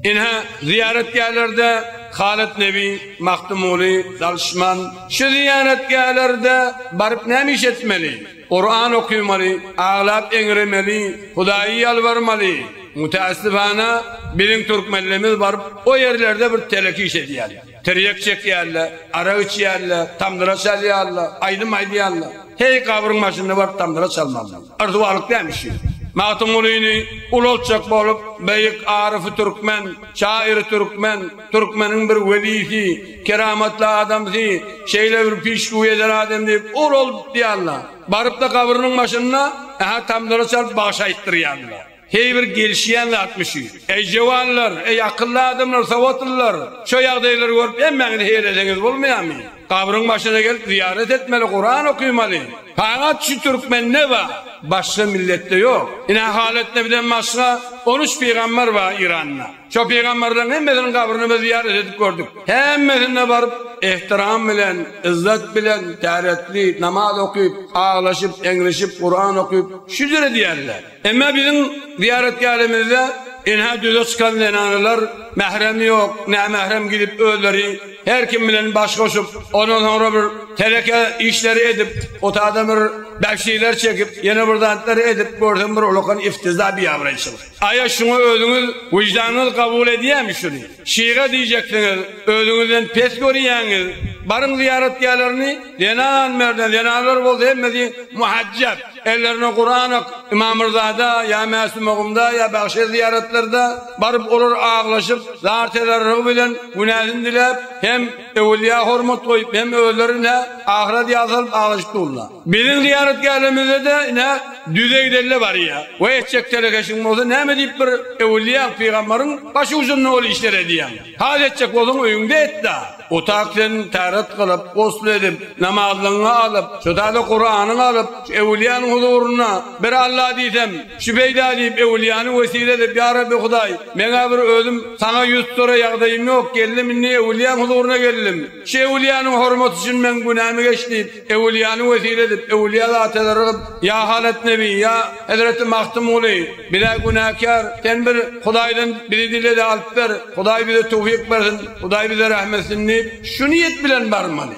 Ine, zyýaratgählerde Halyt Nebi, Magtymguly, Dalyşman. Şu zyýaratgählerde baryp näme iş etmeli? Kuran okymaly, aglap eňremeli, Hudaýy ýalbarmaly. Mütässifana, biziň türkmenlerimiz baryp o ýerlerde bir telek iş edýär. Tirýek çekýärler, arak içýärler, tamdyra çalýarlar, aýdym aýdýarlar. Heý, gabryň başynda baryp tamdyra çalmalymy? Yrsuwalyk dämi şu? Magtymgulyny ulaltjak bolup, beýik aryfy türkmen, şaýyry türkmen, türkmeniň bir welisi, keramatly adamsy, şeýle bir pişgöw eden adam diýip ulaldypdýarlar. Baryp-da gabrynyň başynda, ä-hä, tamdyra çalyp bagşy aýtdyrýarlar. Heý bir gelişýän zatmy şu? Eý jöwanlar, eý akylly adamlar, sowatlylar, şo ýagdaýlary görüp hemmäňiz heýreseňiz bolmaýamy? Gabryň başyna gelip zyýarat etmeli, Kuran okymaly. Fagat şu türkmende bar, başga milletde ýok. Ine halatda bizden başga on üç pygambar bar Iranda. Şo pygambarlaryň hemmesiniň gabryny biz zyýarat edip gördük. Hemmesine baryp ehtiram bilen, yzzat bilen, täretli, namaz okyp, aglaşyp, eňrişip, Kuran okyp, şükür edýärler. Emma biziň zyýaratgähimizde ynha düze çykan zenanlar mähremi ýok, nämährem gidip özleri her kim bilen baş goşup, ondan soňra bir teleke işleri edip, o taýdan bir bäşlikler çekip, ýene bir zatlar edip görsem bir ulakan iftiza, biabraýçylyk. Aýa şuňa özüňiz, wyždanyňyz kabul edýärmi şuny? Şyga diýjeksiňiz, özüňizden pes görýäňiz. Baryň zyýaratgählerini zenan merdan, zenanlar bolsa hemmesi muhajjap. Ellerine Kuran ak, Ymamyrzada ýa Mäsumagumda ýa Bagşy zyýaratlarda baryp olar aglaşyp, zar tezarrugy bilen günäsini diläp, hem öwülýä hormat goýup, hem özleri nä ahyra ýa salyp aglaşyp durla. Biziň zyýaratgählimizde-de ine, düzey delle barýar we etjek telekeşiň bolsa näme diýip bir öwülýäň, pygambaryň başucunda ol işleri edýäň? Has etjek bolsaň öýüňde et-dä! Otag sen täret gylyp, gusl edip, namazlygyňy alyp, şu täze Kuranyňy alyp, şu öwülýäniň huzurynda bir Alla diýsem, şu peýda diýip öwülýäni wesile edip, ýa Rabbi Hudaý, meň-ä bir özüm Saňa ýüz tutara ýagdaýym ýok, geldim indi öwülýäň huzuruna geldim. Şu öwülýäniň hormaty üçin meň günämi geç diýip, Öwülýany wesile edip, öwülýä zatlary gyp, ýa Halat nebi, ýa hezreti Magtymguly, biz-ä günäkär, sen bir Hudaýdan bizi dile-de alyp ber, Hudaý bize töwfik bersin, Hudaý bize rähm etsin diýip, şu niýet bilen barmaly.